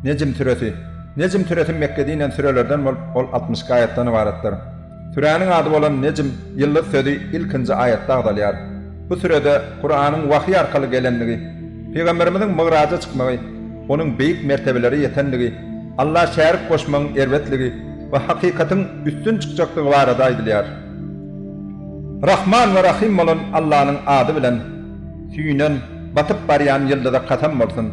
Nejm süresi. Nejm süresi Mekgede inen sürelerden bolup, ol altmyşyk aýatdan ybaratdyr. Süräniň ady bolan Nejm, ýyldyz sözi ilkinji aýatda agzalýar. Bu sürede Kuranyň wahyý arkaly gelendigi, Pygamberimiziň Mygraja çykmagy, onuň beýik mertebelere ýetendigi, Alla şärik goşmagyň erbetligi we hakykatyň üstün çykjakdygy barada aýdylýar. Rahman we Rahym bolan Allanyň ady bilen. Süýnen, batyp barýan ýyldyza kasam bolsun!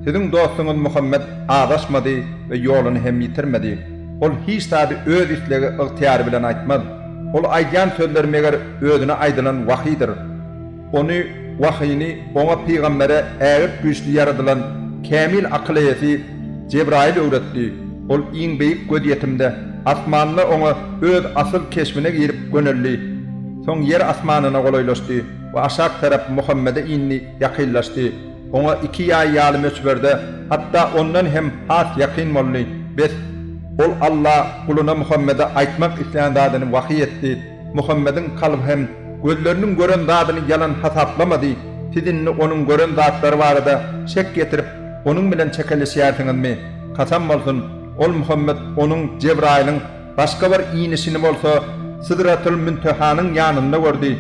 Siziň dostuňyz Muhammet azaşmady we ýoluny hem ýitirmedi. Ol hiç zady öz islegi, ygtyýary bilen aýtmaz. Ol aýdýan sözler meger özüne aýdylan wahyýdyr. Ony, wahyny, oňa pygambere ägirt güýçli ýaradylan kämil akyl eýesi Jebraýyl öwretdi. Ol iň beýik gözýetimde asmanda oňa öz asyl keşbine girip göneldi. Soň ýer asmanyna golaýlaşdy. we aşak tarap Muhammede indi ýakynlaşdy, oňa iki ýaý ýaly möçberde, hatda ondan hem has ýakyn boldy, bes, Ol, Alla, guluna Muhammede aýtmak islän zadyny wahyý etdi, Muhammediň kalby hem gözleriniň gören zadyny ýalan hasaplamady, siz indi onuň gören zatlary barada şek ýetirip, onuň bilen çekeleşýärsiňizmi? Kasam bolsun, ol, Muhammet, onuň, Jebraýylyň, Başga bir inişini bolsa Sydratyl-Müntehanyň ýanynda gördi.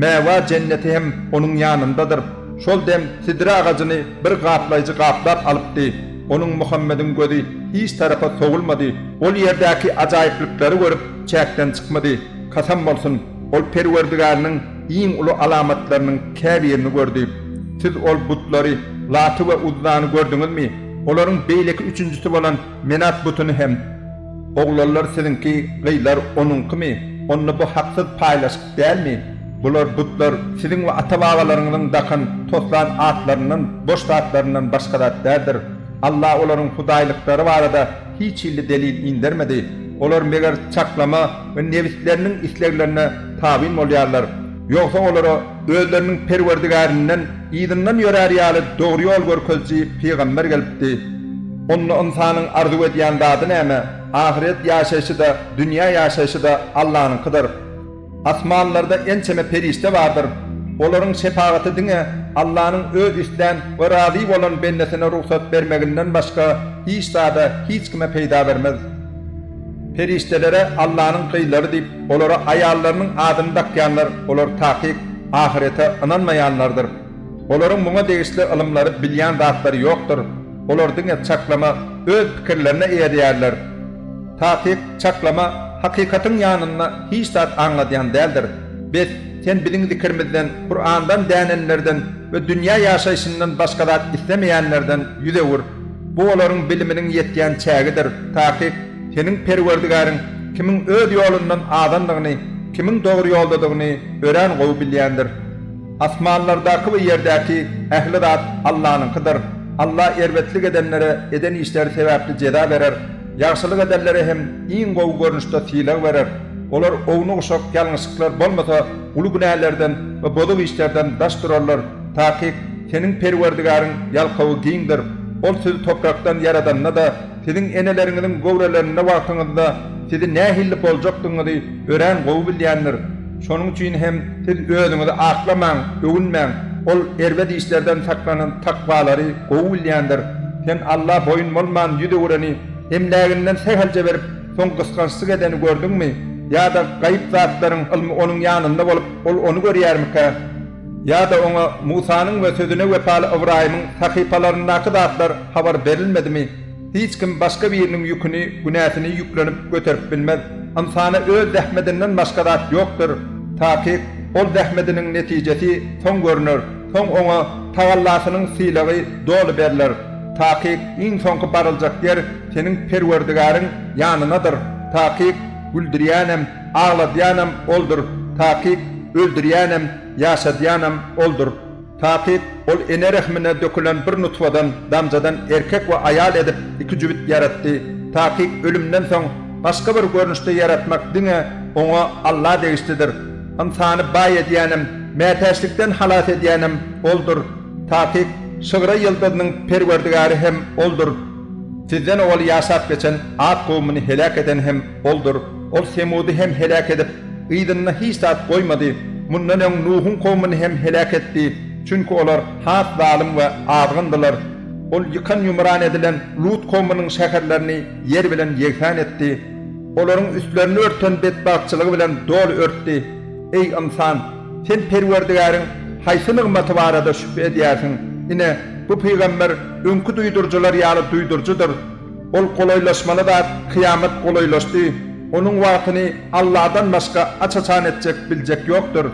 Mäwa jenneti hem onuň ýanyndadyr. Şol dem sidre agajyny bir gaplaýjy gaplap alypdy. Onuň Muhammediň gözi hiç tarapa sowulmady. Ol ýerdäki ajaýyplyklary görüp çäkden çykmady. Kasam bolsun, ol Perwerdigäriniň iň uly alamatlarynyň käbirini gördi. Siz ol butlary, Laty we Uzzany gördüňizmi? Olaryň beýleki üçünjisi bolan Men at butuny hem oglanlar siziňki gyzlar onuňkymy onda bu haksyz paýlaşyk dälmi bular butlar siziň we ata babalaryňyzyň dakan toslan atlaryndan boş zatlaryndan başga zat däldir Alla olaryň hudaýlyklary barada hiç hilli delil indermedi olar meger çaklama we nebisleriniň isleglerine tabyn bolýarlar Ýogsa olara özleriniň Perwerdigärinden yzyndan ýörär ýaly dogry ýol görkeziji pygamber gelipdi. Onda ynsanyň arzuw edýän zady näme? Ahyret ýaşaýşy-da, dünýä ýaşaýşy-da Allanyňkydyr. Asmanlarda ençeme perişde bardyr. Olaryň şepagaty diňe Allanyň öz islän we razy bolan bendesine rugsat bermeginden başga hiç zada, hiç kime peýda bermez. Perişdelere Allanyň gyzlary diýip, olara aýallarynyň adyny dakýanlar, olar takyk ahyrete ynanmaýanlardyr. Olaryň muňa degişli ylymlary, bilýän zatlary ýokdur. Olar diňe çaklama, öz pikirlerine eýerýärler. Takyk, çaklama hakykatyň ýanynda hiç zat aňladýan däldir. Bes, sen biziň zikirimizden, Kurandan dänenlerden we dünýä ýaşaýşyndan başga zat islemeýänlerden ýüz öwür. Bu olaryň biliminiň ýetýän çägidir, takyk, seniň Perwerdigäriň kimiň öz ýolundan azandygyny, kimiň dogry ýoldadygyny örän gowy bilýändir. Asmanlardaky we ýerdäki ähli zat Allanyňkydyr. Alla erbetlik edenlere eden işleri sebäpli jeza berer, ýagşylyk edenlere hem iň gowy görnüşde sylag berer. Olar ownuk-uşak ýalňyşlyklar bolmasa, uly günälerden we bozuk işlerden daş durarlar. Takyk, seniň Perwerdigäriň ýalkawy giňdir, Ol sizi toprakdan ýaradanda-da, siziň eneleriňiziň göwrelerinde wagtyňyzda sizi nähilli boljakdygyňyzy örän gowy bilýändir. Şonuň üçin hem siz özüňizi aklamaň, öwünmäň. Ol erbet işlerden saklanan takwalary gowy bilýändir. Sen Alla boýun bolman ýüz öwüreni, emläginden sähelçe berip, soň gysgançlyk edeni gördüňmi? Ýa-da gaýyp zatlaryň ylmy onuň ýanynda bolup, ol ony görýärmikä? Ýa-da oňa Musanyň we sözüne wepaly Ybraýymyň sahypalaryndaky zatlar habar berilmedimi? Hiç kim başga biriniň ýüküni, günäsini ýüklenip, göterip bilmez. Ynsana öz zähmedinden başga zat ýokdur. Takyk, ol zähmediniň netijesi soň görner, soň oňa tagallasynyň sylagy doly berler. Takyk, iň soňky baryljak ýer seniň Perwerdigäriň ýanynadyr. Takyk, güldürýänem. Agladýanam oldur, takyk, öldürýänem, ýaşadýanam oldur, takyk, ol ene rehmine dökülen bir nutfadan, damjadan erkek we aýal edip iki jübüt ýaratdy, takyk, ölümden soň başga bir görnüşde ýaratmak diňe Oňa, Alla, degişlidir. Ynsany baý edýänem, mätäçlikden halas edýänem Oldur, takyk, şygra ýyldyzynyň Perwerdigäri hem Oldur. Sizden owal ýaşap geçen at kowumyny heläk eden hem Boldur, Ol Semudy hem heläk edip, yzynda hiç zat goýmady. Mundan öň Nuhuň kowumyny hem heläk etdi, çünki olar has zalym we azgyndylar. Ol ýykan-ýumran edilen Lut kowumynyň şäherlerini ýer bilen ýegsan etdi. Olaryň üstlerini örten betbagtçylygy bilen doly örtdi. Eý, ynsan! Sen Perwerdigäriň haýsy nygmaty barada şübhe edýärsiň? Ine, bu pygamber öňki duýduryjylar ýaly duýduryjydyr. Ol golaýlaşmaly zat kyýamat golaýlaşdy, onuň wagtyny Alladan başga aç-açan etjek, biljek ýokdur.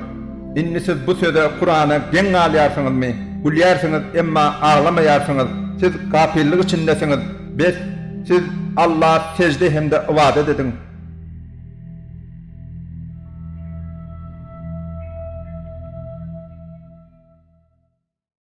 Indi siz bu söze, Kurana, geň galýarsyňyzmy? Gülýärsiňiz, emma aglamaýarsyňyz. Siz gapyllyk içindesiňiz. Bes, siz Alla sežde hem-de ybadat ediň.